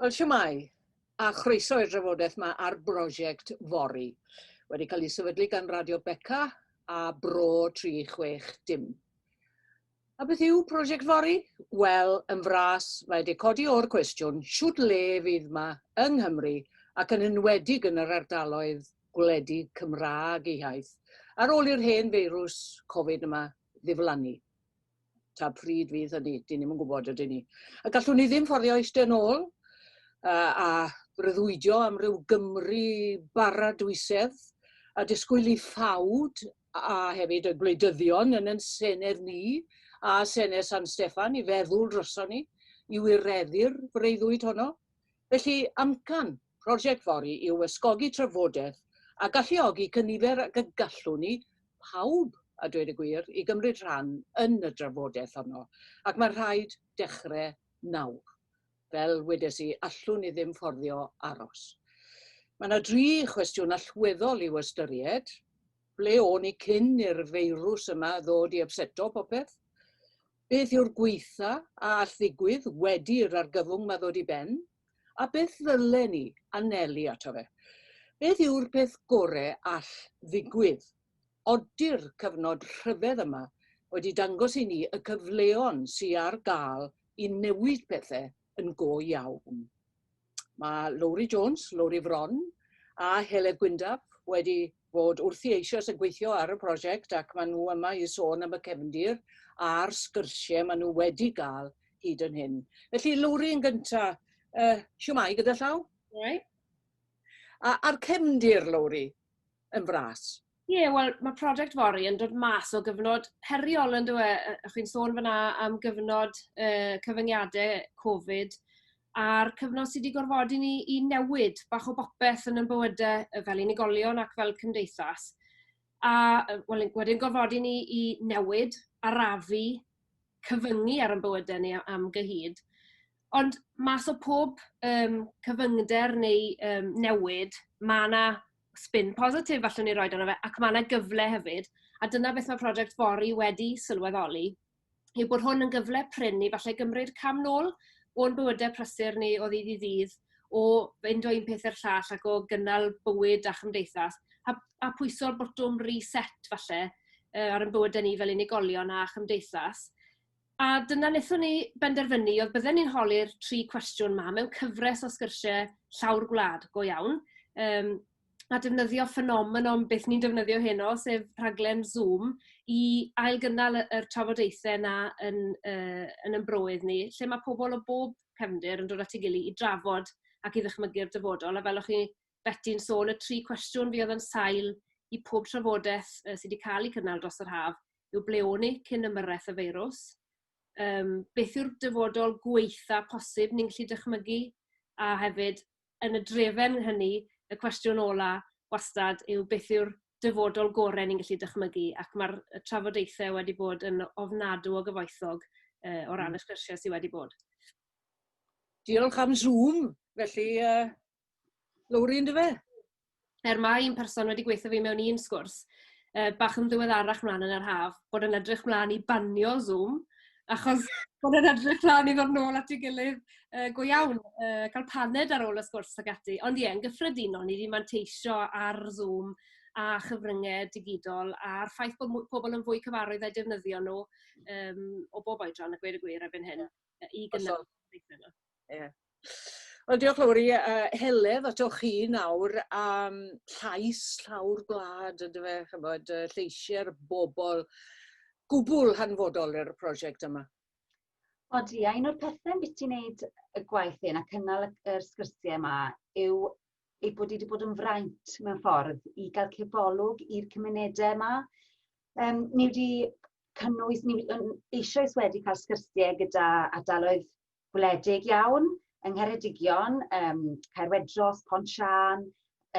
Wel, siwmai, a chroeso i'r drafodaeth yma ar brosiect Fori, wedi cael ei sefydlu gan Radio Beca a Bro 360. A beth yw prosiect Fori? Wel, yn fras, mae wedi codi o'r cwestiwn shwt le fydd ma yng Nghymru ac yn enwedig yn yr ardaloedd gwledig Cymraeg eu hiaith, ar ôl i'r hen feirws Covid yma ddiflannu. Ta pryd fydd hynny, dyn ni'm yn gwybod ydyn ni. A gallwn ni ddim fforddio eistedd yn ôl uh, a breuddwydio am ryw Gymru bara dwysedd a disgwyl i ffawd a hefyd y gwleidyddion yn yn Senedd ni a Senedd San Steffan i feddwl droson ni i wireddu'r breuddwyd honno. Felly, amcan, Prosiect fory yw ysgogi trafodaeth a galluogi cynifer ag y gallwn ni, pawb, a dweud y gwir, i gymryd rhan yn y drafodaeth honno, ac mae rhaid dechrau nawr. Fel wedes i, allwn ni ddim fforddio aros. Mae yna dri chwestiwn allweddol i'w ystyried. Ble o'n ni cyn i'r feirws yma ddod i ypseto popeth? Beth yw'r gwaetha a all ddigwydd wedi i'r argyfwng yma ddod i ben? A beth ddylen ni anelu ato fe? Beth yw'r peth gore all ddigwydd? Ody'r cyfnod rhyfedd yma wedi dangos i ni y cyfleon sy ar gael i newid pethe yn go iawn? Mae Lowri Jones, Lowri Fron a Heledd Gwyndaf wedi bod wrthi eisoes yn gweithio ar y prosiect ac maen nhw yma i sôn am y cefndir a'r sgyrsiau maen nhw wedi gael hyd yn hyn. Felly, Lowri yn gyntaf, uh, siwmai gyda llaw? Siwmai. A, a'r cefndir, Lowri, yn fras? Ie, yeah, wel, mae prosiect Fori yn dod mas o gyfnod heriol yn dweud, e? Chi'n sôn fyna am gyfnod uh, cyfyngiadau Covid, a'r cyfnod sy' 'di gorfodi ni i newid bach o bopeth yn 'yn bywyde yy fel unigolion ac fel cymdeithas. A yy wel yn wedyn gorfodi ni i newid, arafu, cyfyngu ar 'yn bywyde ni a- am gyhyd. Ond mas o pob yym cyfyngder neu yym newid ma' 'na sbin positif allwn ni roid arno fe ac ma' 'na gyfle hefyd a dyna beth ma' project Fori wedi sylweddoli. yw bod hwn yn gyfle prin i falle gymryd cam nôl o'n bywydau prysur ni o ddydd i ddydd, o fynd o un peth i'r llall ac o gynnal bywyd a chymdeithas, a, a pwyso'r botwm reset falle uh, ar ein bywydau ni fel unigolion a chymdeithas. A dyna wnaethon ni benderfynu oedd bydden ni'n holi'r tri cwestiwn ma mewn cyfres o sgyrsiau llawr gwlad go iawn, um, a defnyddio ffenomenon beth ni'n defnyddio heno, sef rhaglen Zoom, i ailgynnal y yr trafodaethe 'na yn yy yn 'yn broedd ni, lle ma' pobol o bob cefndir yn dod at ei gily i drafod ac i ddychmygu'r dyfodol. A fel o'ch chi Beti'n sôn, y tri cwestiwn fuodd yn sail i pob trafodeth yy sy 'di ca'l 'u cynnal dros yr haf yw ble o'n ni cyn ymyrreth y feirws? Yym beth yw'r dyfodol gwaetha posib ni'n gallu dychmygu? A hefyd, yn y drefen hynny, y cwestiwn ola' wastad yw beth yw'r dyfodol gore' ni'n gallu dychmygu ac ma'r y trafodaethe wedi bod yn ofnadw o gyfoethog yy o ran y sgyrsie sy wedi bod. Diolch am Zoom felly yy Lowri yndyfe? er mae un person wedi gweithio fi mewn un sgwrs, uh, bach yn ddiweddarach mlaen yn yr haf, bod yn edrych mlaen i banio Zoom, achos bod yn edrych mlaen i ddod nôl at ei gilydd uh, go iawn, uh, cael paned ar ôl y sgwrs ag ati. Ond ie, yn gyffredinol, ni wedi manteisio ar Zoom a chyfryngau digidol a'r ffaith bod pobl yn fwy cyfarwydd â'i defnyddio nhw um, o bob oedran, y gweud y gwir erbyn hyn, i gynnal. Ie. Wel diolch Lowri a Heledd atoch chi nawr am llais llawr gwlad yndyfe ch'mod yy lleisie'r bobl gwbwl hanfodol i'r prosiect yma. Odi, a un o'r pethe ambiti ti wneud y gwaith hyn a cynnal y yr sgyrsie yma yw ei bod wedi bod yn fraint mewn ffordd i gael cebolwg i'r cymunedau yma. Um, ni wedi cynnwys, ni eisoes wedi cael sgyrsiau gyda ardaloedd gwledig iawn yng Ngheredigion, yym Caerwedros, Pont Siân,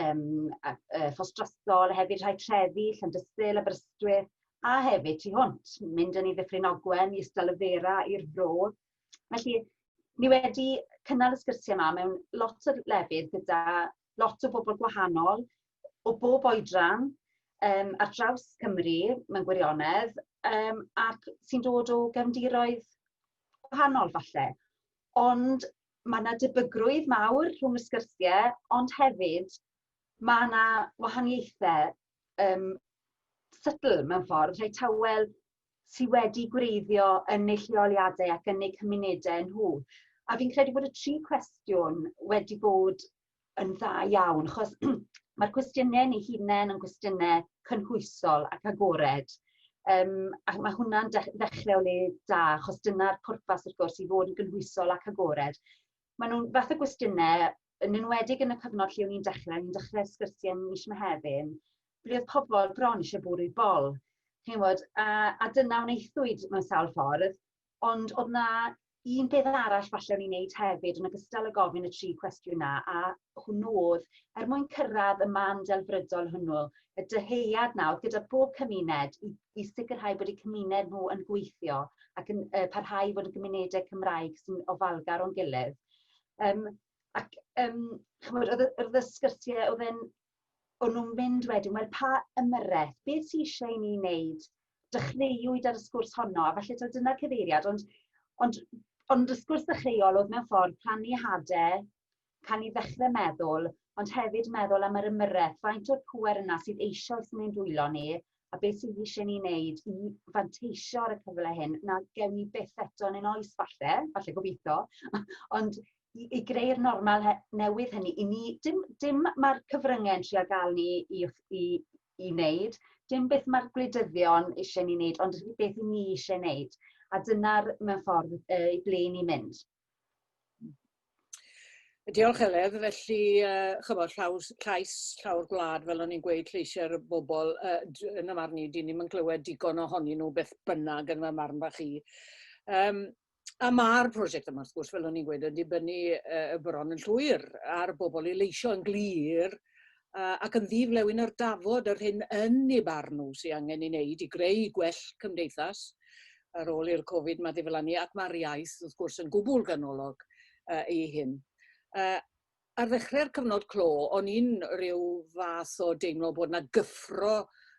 yym a- yy Ffos Drostol, hefyd rhai trefi, Llandysul, Aberystwyth, a hefyd tu hwnt, mynd yn i Ddyffryn Ogwen, i Ystal y Fera, i'r Fro. Felly, ni wedi cynnal y sgyrsiau yma mewn lot o lefydd gyda lot o bobl gwahanol, o bob oedran, um, ar draws Cymru, mewn gwirionedd, um, ac sy'n dod o gefndiroedd gwahanol falle, ond mae yna debygrwydd mawr rhwng y sgyrsiau, ond hefyd mae yna wahaniaethau um, sydl mewn ffordd, rhai tawel sydd wedi gwreiddio yn eu lleoliadau ac yn eu cymunedau nhw. A fi'n credu bod y tri cwestiwn wedi bod yn dda iawn, achos mae'r cwestiynau ni hunain yn gwestiynau cynhwysol ac agored. Um, ac mae hwnna'n ddechrau o le da, achos dyna'r pwrpas wrth gwrs i fod yn gynhwysol ac agored. Mae nhw'n fath o gwestiynau, yn enwedig yn y cyfnod lle o'n i'n dechrau, o'n i'n dechrau sgyrsiau mis Mehefin, ble oedd pobl bron eisiau bwrw bol. Chi'n bod, a, a dyna wnaethwyd mewn sawl ffordd, Ond oedd 'na un peth arall falle o'n i'n neud hefyd yn ogystal â gofyn y tri cwestiwn 'na a hwnnw o'dd er mwyn cyrraedd y man delfrydol hwnnw, y dyhead 'na o'dd gyda bob cymuned i i sicrhau bod eu cymuned nhw yn gweithio ac yn yy parhau i fod yn gymunedau Cymraeg sy'n ofalgar o'n gilydd. Yym ac yym ch'mod o'dd y o'dd y sgyrsie o'dd e'n O'n nhw'n mynd wedyn, wel pa ymyrraeth, beth sydd eisiau i ni wneud? Dechreuwyd ar y sgwrs honno, a falle taw dyna'r cyfeiriad, ond, ond, ond y sgwrs ddechreuol oedd mewn ffordd plannu hadau, cael ni ddechrau meddwl, ond hefyd meddwl am yr ymyrraeth, faint o'r pŵer yna sydd eisoes yn ein dwylo ni, a beth sydd eisiau ni wneud i fanteisio ar y cyfle hyn, na gewn ni beth eto yn ein oes falle, falle gobeithio, ond i, i greu'r normal newydd hynny, i ni, dim, dim mae'r cyfryngau yn trio gael ni i, i, i wneud, dim beth mae'r gwleidyddion eisiau ni wneud, ond beth i ni eisiau wneud. A dyna'r mewn ffordd y ble ni'n mynd. Diolch Heledd. Felly yy ch'mod llaws llais llawr gwlad fel o'n i'n gweud lleisiau'r bobl yy d- yn y marn i 'dyn ni'm yn clywed digon ohonyn nhw beth bynnag yn fy marn bach i. Yym a ma'r prosiect yma wrth gwrs fel o'n i'n gweud yn dibynnu yy bron yn llwyr ar bobl i leisio yn glir yy ac yn ddi-flewyn ar dafod yr hyn yn ei barn nhw sydd angen ei wneud i greu gwell cymdeithas ar ôl i'r Covid 'ma ddiflannu, ac mae'r iaith wrth gwrs yn gwbl ganolog yy i hyn. Yy ar ddechrau'r cyfnod clo o'n i'n rhyw fath o deimlo bod 'na gyffro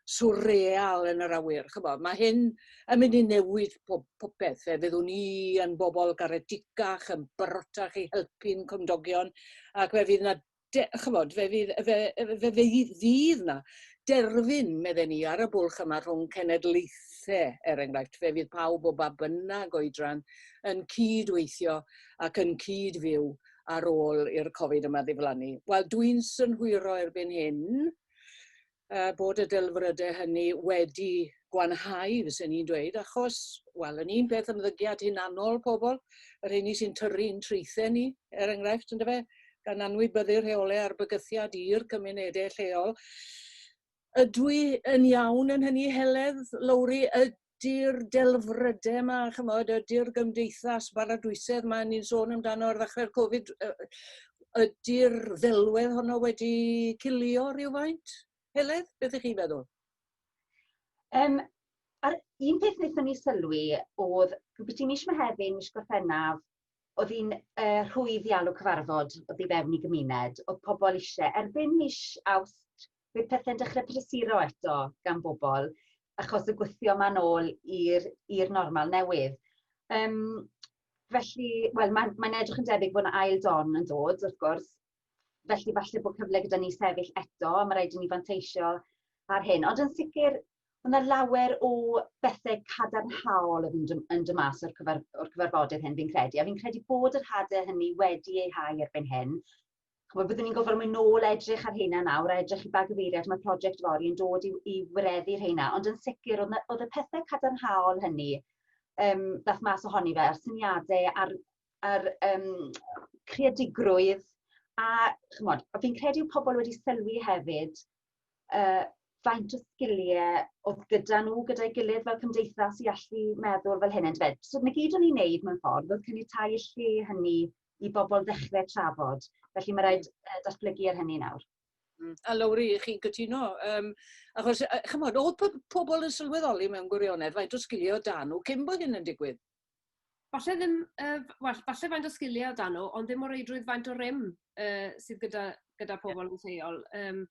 swreal yn yr awyr, ch'bo', mae hyn yn mynd i newid pob popeth, fe fyddwn ni yn bobl garedig-gach, yn barotach i helpu'n cymdogion ac fe fydd 'na de, chymod, fe fydd, fe, fe, fe fydd na derfyn, medden ni, ar y bwlch yma rhwng cenedlaethau, er enghraifft, fe fydd pawb o ba bynnag oedran yn cyd-weithio ac yn cyd-fyw ar ôl i'r Covid yma ddiflannu. Wel, dwi'n synhwyro erbyn hyn uh, bod y delfrydau hynny wedi gwanhau, fyswn i'n dweud, achos, wel, yn un peth ymddygiad hunanol pobl, yr hyn sy'n tyrru'n traethau ni, er enghraifft, ynddo fe, gan anwybyddu rheolau ar bygythiad i'r cymunedau lleol. Ydw i yn iawn yn hynny, Heledd, Lowri, 'di'r delfryde 'ma ch'mod a 'di'r gymdeithas baradwysedd 'ma ni'n sôn amdano ar ddechre'r Covid yy ydi'r ddelwedd honno wedi cilio rywfaint? Heledd, beth ych chi'n feddwl? Um, a'r un peth wnaethon ni sylwi oedd rhywbeth i mis Mehefin, mis Gorffennaf, oedd hi'n uh, rhwydd i alw cyfarfod oedd i fewn i gymuned, oedd pobl eisiau, erbyn mis Awst, bydd pethe'n dechre prysuro eto gan bobl achos y gwythio ma'n ôl i'r i'r normal newydd. Yym felly, wel mae'n mae'n edrych yn debyg bod 'na ail don yn dod wrth gwrs, felly falle bod cyfle gyda ni sefyll eto, ma' raid i ni fanteisio ar hyn. Ond yn sicr, ma' 'na lawer o bethe cadarnhaol yn mynd yn yn dod mas o'r cyfar- o'r cyfarfodydd hyn fi'n credu, a fi'n credu bod yr hade hynny wedi eu hau erbyn hyn, Chwa, byddwn ni'n gofod mynd nôl edrych ar hynna nawr, a edrych i ba gyfeiriad mae prosiect fori yn dod i, i wireddu hynna, ond yn sicr oedd, oedd y pethau cadarnhaol hynny, um, dath mas ohoni fe, a'r syniadau a'r, ar um, creadigrwydd, a chymod, fi'n credu yw pobl wedi sylwi hefyd uh, faint o sgiliau oedd gyda nhw, gyda'i gilydd fel cymdeithas i allu meddwl fel hyn, yn dweud. So, na gyd o'n i'n neud mewn ffordd oedd cynnig tai y lle hynny i bobl ddechrau trafod. Felly mae rhaid uh, datblygu ar hynny nawr. Mm. A Lowri, chi'n cytuno? Um, achos, uh, chymod, oedd po pobl yn sylweddoli mewn gwirionedd faint o sgilio dan nhw cyn bod hyn yn digwydd? Falle ddim, uh, well, falle faint o sgiliau dan nhw, ond ddim o reidrwydd faint o rym uh, sydd gyda, gyda pobl yn lleol um,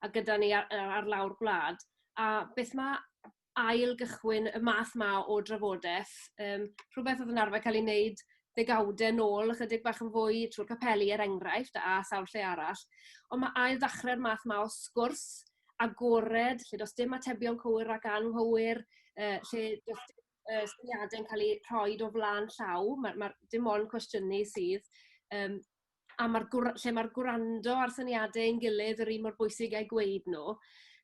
a gyda ni ar, ar lawr gwlad. A beth mae ail gychwyn y math 'ma o drafodeth, yym rhwbeth odd yn arfer ca'l 'i neud ddegawde nôl ychydig bach yn fwy trw'r capeli er enghraifft a sawl lle arall. On' ma' ail dachre'r math 'ma o sgwrs agored lle do's dim atebion cywir ac anghywir yy lle do's dim yy syniade'n ca'l 'u rhoid o flan llaw ma' ma'r dim ond cwestiynu sydd yym a ma'r gwr- lle ma'r gwrando a'r syniade ein gilydd yr un mor bwysig â'u gweud nw.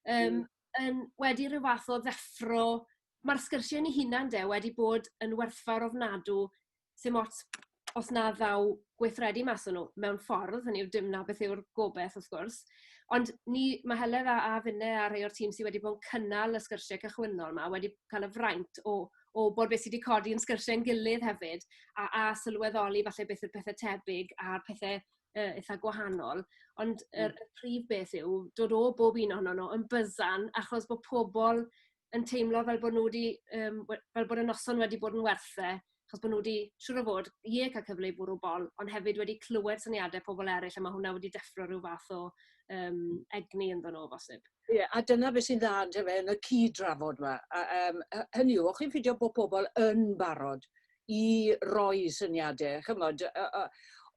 Yym. yn wedi rhyw fath o ddeffro. Mae'r sgyrsiau yn eu hunain de wedi bod yn werthfawr ofnadw, sim ots os na ddaw gweithredu mas o'n nhw, mewn ffordd, hynny yw dim 'na beth yw'r gobaith wrth gwrs. Ond ni... mae Heledd a a finne a rhai o'r tîm sydd wedi bod yn cynnal y sgyrsiau cychwynnol 'ma wedi cael y fraint o o wybod beth sy' 'di codi yn sgyrsiau'n gilydd hefyd, a a sylweddoli falle beth yw'r pethe tebyg a'r pethe yy itha gwahanol, ond yr y prif beth yw dod o bob un ohonon nhw yn byzzan achos bod pobl yn teimlo fel bod nhw 'di yym we- fel bod y noson wedi bod yn werth e, achos bod nhw 'di siŵr o fod, ie, cael cyfle i fwrw bol, ond hefyd wedi clywed syniadau pobl eraill a ma' hwnna wedi deffro ryw fath o yym egni ynddyn nhw o bosib. Ie, a dyna beth sy'n dda yndyfe yn y cyd-drafod 'ma. A yym hy- hynny yw, o'ch chi'n ffindio bod pobl yn barod i roi syniade, ch'mod, yy yy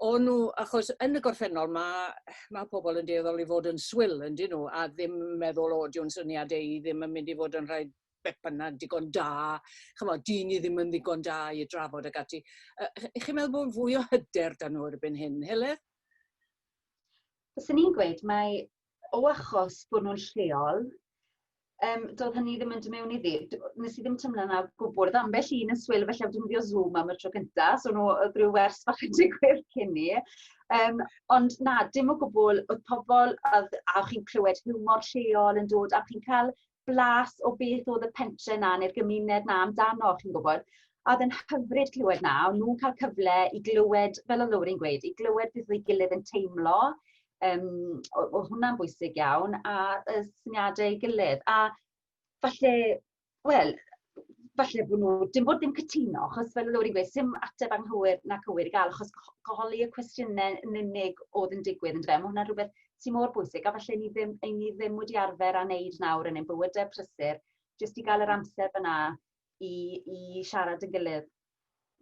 o nw, achos yn y gorffennol ma' ma' pobol yn dueddol i fod yn swil yndyn nhw a ddim yn meddwl o dyw'n syniade i ddim yn mynd i fod yn rhai beth bynnag digon da, ch'mod, dy'n ni ddim yn ddigon da i drafod ag ati. Yy chi'n meddwl bod fwy o hyder 'da nhw erbyn hyn, Heledd? Fyswn i'n gweud mae o achos bod nhw'n lleol, um, doedd hynny ddim yn dymewn iddi. Nes i ddim tymlo na gwbl. Oedd ambell un yn swyl felly am defnyddio Zoom am y tro cyntaf, so nhw oedd rhyw wers bach yn digwydd cyn ni. Um, ond na, dim o gwbl, oedd pobl, oedd, a chi'n clywed hiwmor lleol yn dod, a chi'n cael blas o beth oedd y pentre 'na neu'r gymuned 'na amdano, chi'n gwybod. A oedd e'n hyfryd clywed 'na, o'n nhw'n cael cyfle i glywed, fel o Lowri'n gweud, i glywed beth oedd ei gilydd yn teimlo, um, oedd hwnna'n bwysig iawn, a y syniadau ei gilydd. A falle, wel, falle bod nhw, dim bod ddim cytuno, achos fel oedd wedi gweud, sy'n ateb anghywir na cywir i gael, achos goholi y cwestiynau yn unig oedd yn digwydd yn dweud, mae hwnna'n rhywbeth sy'n mor bwysig, a falle ni ddim, ein ni ddim wedi arfer a wneud nawr yn ein bywydau prysur, jyst i gael yr amser fyna i, i siarad yn gilydd.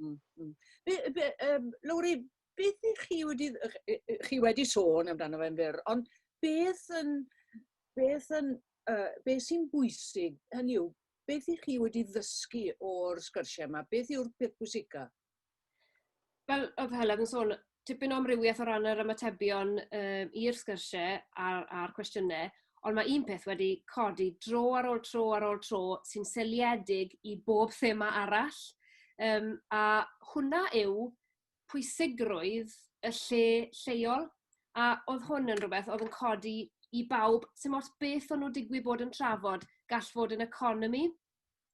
Mm, mm. Be, be, um, Lowri, beth ych chi wedi, chi wedi sôn amdano fe'n fyr, ond beth yn, beth yn, uh, beth sy'n bwysig, hynny yw, Beth ych chi wedi ddysgu o'r sgyrsiau yma? Beth yw'r peth pwysica? Fel oedd Helen yn sôn, tipyn o amrywiaeth o ran yr ymatebion um, i'r sgyrsiau a'r, a'r cwestiynau, ond mae un peth wedi codi dro ar ôl tro ar ôl tro sy'n seliedig i bob thema arall. Um, a hwnna yw pwysigrwydd y lle lleol, a oedd hwn yn rhywbeth oedd yn codi i bawb, sy'n ots beth o'n nhw digwydd bod yn trafod, gall fod yn economi,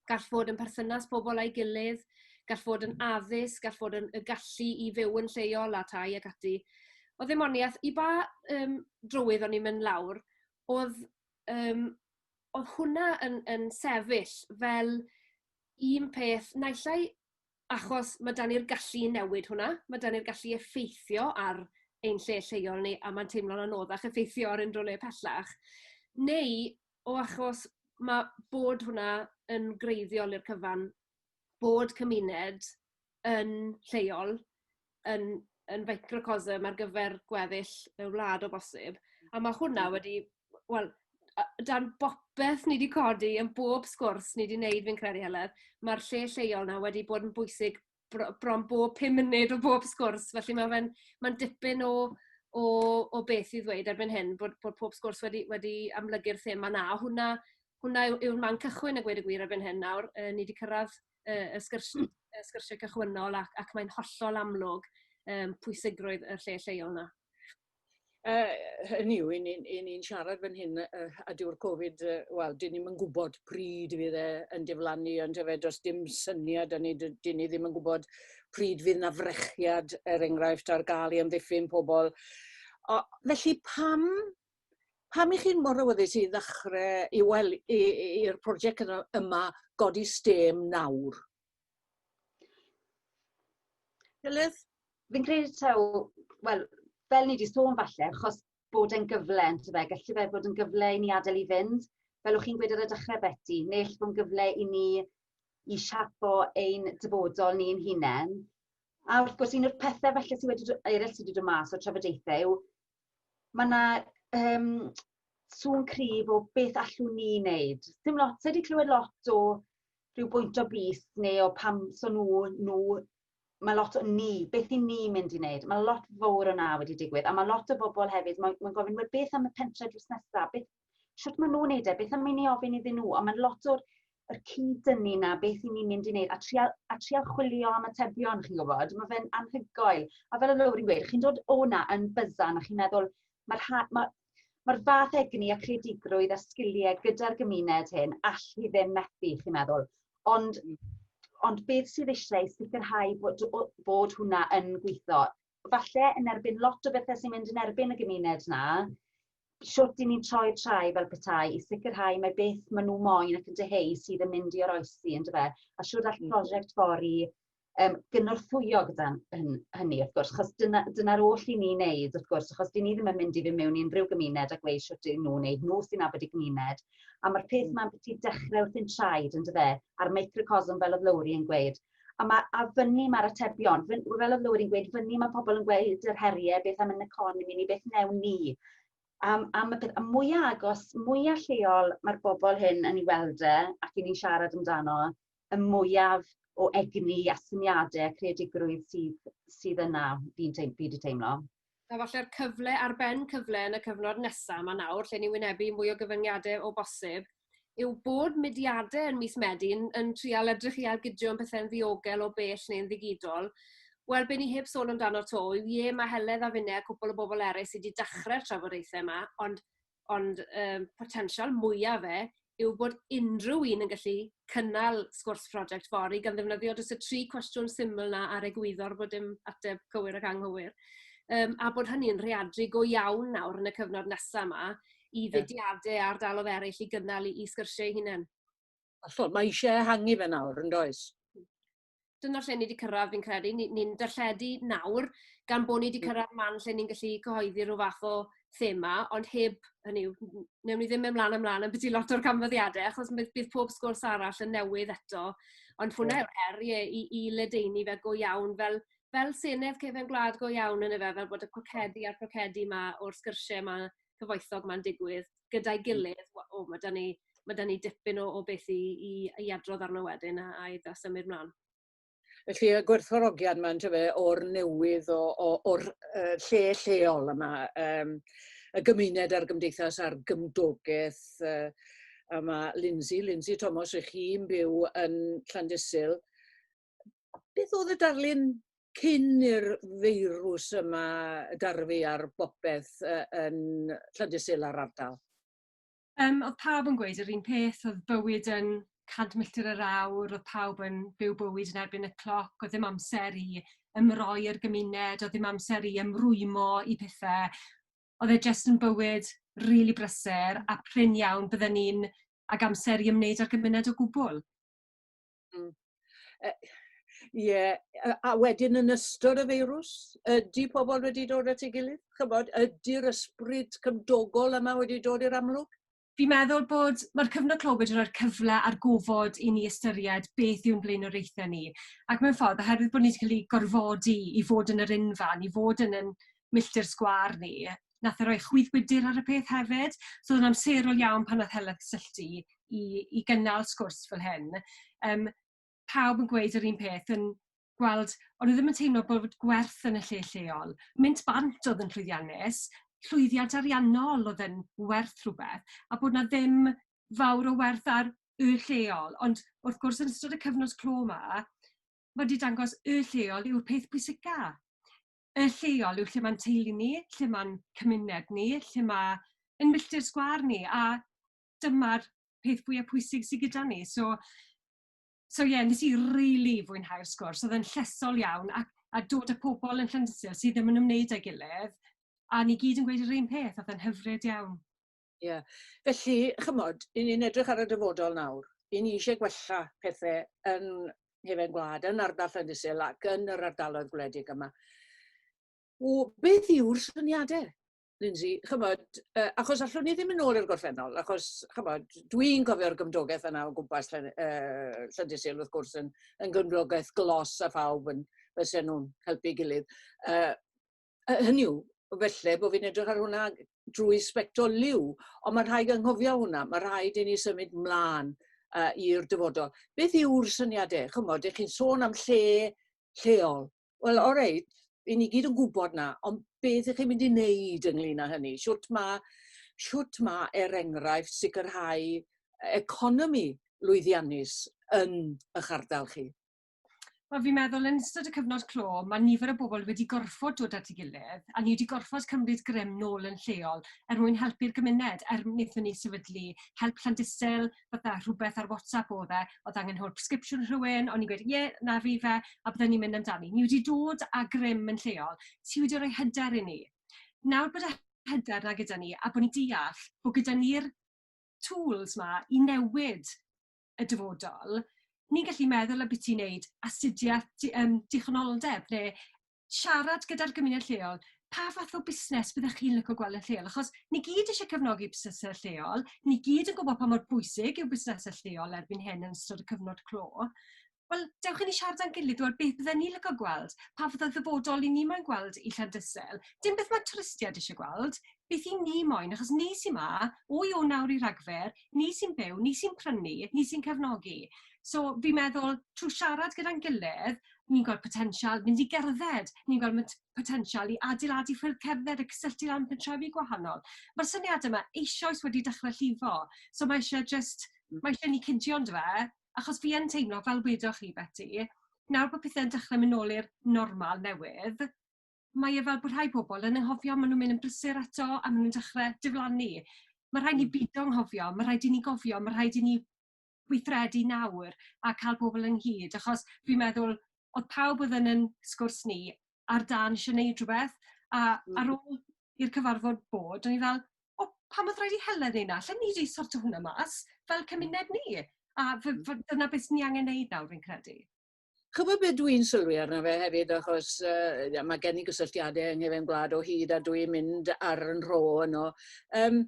gall fod yn perthynas pobl â'i gilydd, gall fod yn addysg, gall fod yn y gallu i fyw yn lleol a tai ac ati. Oedd ddim ond iaith, i ba um, drywydd o'n i'n mynd lawr, oedd, um, oedd hwnna yn, yn sefyll fel un peth, naillai achos ma' 'dan ni'r gallu i newid hwnna, ma' 'dan ni'r gallu i effeithio ar ein lle lleol ni, a ma'n teimlo'n anoddach effeithio ar unryw le pellach, neu o achos ma' bod hwnna yn greiddiol i'r cyfan, bod cymuned yn lleol, yn yn feicrocosm ar gyfer gweddill y wlad o bosib. A ma' hwnna wedi wel a- dan bopeth ni 'di codi yn bob sgwrs ni 'di neud fi'n credu Heledd ma'r lle lleol 'na wedi bod yn bwysig bro- bron bob pum munud o bob sgwrs felly ma' fe'n ma'n dipyn o o o beth i ddweud erbyn hyn bod bod pob sgwrs wedi wedi amlygu'r thema 'na a hwnna hwnna yw yw'r man cychwyn a gweud y gwir erbyn hyn nawr yy ni 'di cyrradd y y sgyrs- y sgyrsie cychwynnol ac ac mae'n hollol amlwg yym pwysigrwydd y lle lleol 'na. Yy hynny yw 'yn ni'n 'yn ni'n siarad fan hyn yy yy a dyw'r Covid yy wel 'dyn ni'm yn gwbod pryd fydd e yn diflannu yndyfe fe does dim syniad 'da ni 'dyn ni ddim yn gwbod pryd fydd 'na frechiad er enghraifft ar ga'l i amddiffyn pobol. O, felly pam Pam i chi'n mor awyddus i ddechre i wel- i i i'r project yno yma godi stêm nawr? Delyth? Fi'n credu taw wel fel ni 'di sôn falle achos bod e'n gyfle on'd yfe galle fe fod yn gyfle i ni adel i fynd fel o' chi'n gweud ar y dechre Beti ne'll bo' 'n gyfle i ni i siapo ein dyfodol ni ein hunen a wrth gwrs un o'r pethe falle sy wedi do- eryll sy 'di do' mas o'r trafodaethe yw ma' 'na yym sŵn cryf o beth allwn ni neud. Dim lot ti 'di clywed lot o rhyw bwynt o brys neu o pam so n'w n'w ma' lot o ni beth 'yn ni mynd i neud ma' lot fowr o 'na wedi digwydd a ma' lot o bobol hefyd moyn moyn gofyn wel beth am y pentre drws nesa beth Sut maen nhw'n neud e? Beth am i ni ofyn iddyn nhw? Ond mae'n lot o'r yr cyd-dynnu na beth i ni'n mynd i wneud a trial, a trial chwilio am atebion, chi'n gwybod, mae fe'n anhygoel. A fel y lawr i'n gweud, chi'n dod o'na yn byzan a chi'n meddwl, mae'r ma, ma, ma fath egni a creadigrwydd a sgiliau gyda'r gymuned hyn all hi ddim methu, chi'n meddwl. Ond, ond beth sydd eisiau sicrhau bod, bod hwnna yn gweithio? falle yn erbyn lot o bethe sy'n mynd yn erbyn y gymuned 'na, shwt 'yn ni'n troi trai fel petai i sicrhau mai beth ma' nw moyn ac yn dyheu sydd yn mynd i oroesi on'd yfe? A shwd all hmm. prosiect Fori yym gynorthwyo gyda hyn- hynny wrth gwrs 'chos dyna dyna'r oll i ni wneud wrth gwrs achos 'dyn ni ddim yn mynd i fyn' mewn i unrhyw gymuned a gweud shwt 'yn nw wneud nhw sy'n nabod y gymuned a ma'r peth hmm. 'ma'n byti dechre wrthi'n traed yndyfe? A'r microcosm fel o'dd Lowri yn gweud a, ma, a fyny mae'r atebion. Fyn, fel oedd Lywyd yn gweud, fyny mae pobl yn gweud yr heriau, beth am yn economi ni, beth newn ni. Am, am y peth, a mwyaf agos, mwyaf lleol mae'r bobl hyn yn ei weld e ac yn ni'n siarad amdano, y mwyaf o egni a syniadau a creadigrwydd sydd, sydd yna, fi'n teim, fi wedi teimlo. A falle'r cyfle ar ben cyfle yn y cyfnod nesaf 'ma nawr, lle ni'n wynebu mwy o gyfyngiadau o bosib, yw bod mudiadau yn mis Medi yn yn trial edrych i ailgydio yn pethe'n ddiogel o bell neu'n ddigidol. Wel, be ni heb sôn amdano 'to yw, ie, ma' Heledd a finne a cwpwl o bobl eraill sy' 'di dachre'r trafodaethau 'ma, ond ond um, potensial mwyaf fe yw bod unrhyw un yn gallu cynnal sgwrs prosiect fori gan ddefnyddio dros y tri cwestiwn syml na ar egwyddor bod dim ateb cywir ac anghywir. Um, a bod hynny'n rheadru go iawn nawr yn y cyfnod nesaf yma i fudiadau ar dalodd eraill i gynnal i, i sgyrsiau hunain. Allol, mae eisiau ehangu fe nawr yn does? dyna lle ni wedi cyrraedd fi'n credu. Ni'n ni, ni darlledu nawr gan bod ni wedi mm. cyrraedd man lle ni'n gallu cyhoeddi rhyw fath o thema, ond heb, hynny yw, newn ni ddim mynd mlaen ymlaen am beth i lot o'r canfyddiadau, achos bydd, bydd pob sgwrs arall yn newydd eto. Ond hwnna yw'r yeah. her, ie, i, i ledeini fe go iawn, fel, fel senedd cefn gwlad go iawn yn y fe, fel bod y cwcedi a'r crocedi yma o'r sgyrsiau yma cyfoethog 'ma'n digwydd gyda'i gilydd we- o ma' 'dan ni ma' 'dan ni dipyn o o beth i i i adrodd arno wedyn a a i da- symud mlan. Felly y gwerthfawrogiad 'ma yntyfe o'r newydd o o o'r yy lle lleol yma yym y gymuned a'r gymdeithas a'r gymdogaeth yy a ma' Lindsay, Lindsay Tomos rych chi'n byw yn Llandysul beth oedd y darlun cyn i'r feirws yma darfu ar bopeth uh, yn Llandysul a'r ardal? Um, oedd pawb yn gweud yr un peth, oedd bywyd yn 100 milltir yr awr, oedd pawb yn byw bywyd yn erbyn y cloc, oedd ddim amser i ymroi i'r gymuned, oedd ddim amser i ymrwymo i pethau. Oedd e jyst yn bywyd rili really brysur a prin iawn bydden ni'n ag amser i ymwneud â'r gymuned o gwbl. Hmm. Yy ie yy a wedyn yn ystod y feirws, ydy pobl wedi dod at ei gilydd? Chybod, ydy'r ysbryd cymdogol yma wedi dod i'r amlwg? Fi'n meddwl bod mae'r cyfnod clo wedi rhoi'r cyfle a'r gofod i ni ystyried beth yw'n blaenoriaethau ni. Ac mewn ffordd, oherwydd bod ni wedi cael ei gorfodi i fod yn yr unfan, i fod yn yn milltir sgwâr ni, wnaeth e roi chwydd gwydr ar y peth hefyd. So oedd o'n amserol iawn pan wnaeth Helen cysylltu i i gynnal sgwrs fel hyn. Yym, pawb yn gweud yr un peth, yn gweld... o'n nhw ddim yn teimlo bod gwerth yn y lle lleol. Mynd bant oedd yn llwyddiannus, llwyddiant ariannol oedd yn werth rhywbeth, a bod 'na ddim fawr o werth ar y lleol. Ond wrth gwrs, yn ystod y cyfnod clo 'ma, ma' 'di dangos y lleol yw'r peth pwysica. y lleol yw lle mae'n teulu ni, lle mae'n cymuned ni, lle mae ein milltir sgwâr ni, a dyma'r peth fwya pwysig sy gyda ni. So so ie, wnes i rili fwynhau'r sgwrs, oedd e'n llesol iawn, ac a dod â pobl yn Llandyssil sydd ddim yn ymwneud â'i gilydd, a ni gyd yn gweud yr un peth, oedd e'n hyfryd iawn. Ie. Felly, chymod, i ni'n edrych ar y dyfodol nawr, i ni eisiau gwella pethe yn Hefen Gwlad, yn ardal Llandysul ac yn yr ardaloedd gwledig yma. O, beth yw'r syniadau? Lindsay, chymod, uh, achos allwn ni ddim yn ôl i'r gorffennol, achos, chymod, dwi'n cofio'r gymdogaeth yna o gwmpas Llan, uh, Llandysul, wrth gwrs, yn, yn gymdogaeth glos a phawb yn fysen nhw'n helpu gilydd. Uh, yy hynny yw, felly bod fi'n edrych ar hwnna drwy sbectol liw, ond mae'n rhaid anghofio hwnna, mae rhaid i ni symud mlaen uh, i'r dyfodol. Beth yw'r syniadau? Chymod, ych chi'n sôn am lle lleol. Wel, o reit, i ni gyd yn gwybod na, ond beth ych chi'n mynd i wneud ynglyn â hynny? Siwt mae, siwt mae er enghraifft sicrhau economi lwyddiannus yn eich ardal chi? Wel, fi'n meddwl yn ystod y cyfnod clo, mae nifer o bobl wedi gorfod dod at ei gilydd, a ni wedi gorfod cymryd grym nôl yn lleol er mwyn helpu'r gymuned, er wnaethon ni sefydlu help Llandysel, fatha rhywbeth ar WhatsApp o fe, oedd angen hwyl prescription rhywun, o'n i'n gweud, ie, yeah, na fi fe, a byddwn ni'n mynd amdani. Ni wedi dod â grym yn lleol, ti wedi rhoi hyder i ni. Nawr bod y hyder na gyda ni, a bod ni'n deall bod gyda ni'r tools ma i newid y dyfodol, ni'n gallu meddwl ambiti wneud astudiaeth di- yym dichonoldeb neu siarad gyda'r gymuned lleol, pa fath o busnes byddech chi'n licio gweld yn lleol? Achos ni gyd eisiau cefnogi busnesau lleol, ni gyd yn gwybod pa mor bwysig yw busnesau lleol erbyn hyn yn ystod y cyfnod clo. Wel, dewch i ni siarad â'n gilydd ŵan, beth fydden ni'n licio gweld, pa fath o ddyfodol 'yn ni moyn gweld i Llandyssil? Dim beth mae twristiaid isie gweld, beth 'yn ni moyn, achos ni sy 'ma, o Ionawr nawr i Ragfyr, ni sy'n byw, ni sy'n prynu, ni sy'n cefnogi. So, fi'n meddwl, trwy siarad gyda'n gilydd, ni'n gweld potensial, mynd i gerdded, ni'n gweld pot- potensial i adeiladu ffyrdd cerdded a cysylltu lan pentrefi gwahanol. Mae'r syniadau 'ma eisoes wedi dechrau llifo, so mae isie jyst... mae isie i ni cydio ondife? achos fi yn teimlo, fel wedoch chi Beti, nawr bod pethe'n dechrau mynd nôl i'r normal newydd, mae e fel bod rhai pobl yn anghofio, maen nhw'n mynd yn brysur eto a maen nhw'n dechrau diflannu. Mae rhaid ni beidio hmm. anghofio, mae rhaid i ni gofio, mae rhaid i ni weithredu nawr a cael pobl ynghyd, achos fi'n meddwl oedd pawb oedd yn yn sgwrs ni ar dân eisiau gwneud rhywbeth, a mm. ar ôl i'r cyfarfod bod, o'n i fel, o, pam oedd rhaid i Helen ei na? Llen ni wedi sort o hwnna mas, fel cymuned ni. A mm. dyna beth ni angen neud nawr, fi'n credu. Chybod beth dwi'n sylwi arno fe hefyd, achos uh, mae gen i gysylltiadau yng Nghyfeim Gwlad o hyd a dwi'n mynd ar yn rho yno. Um,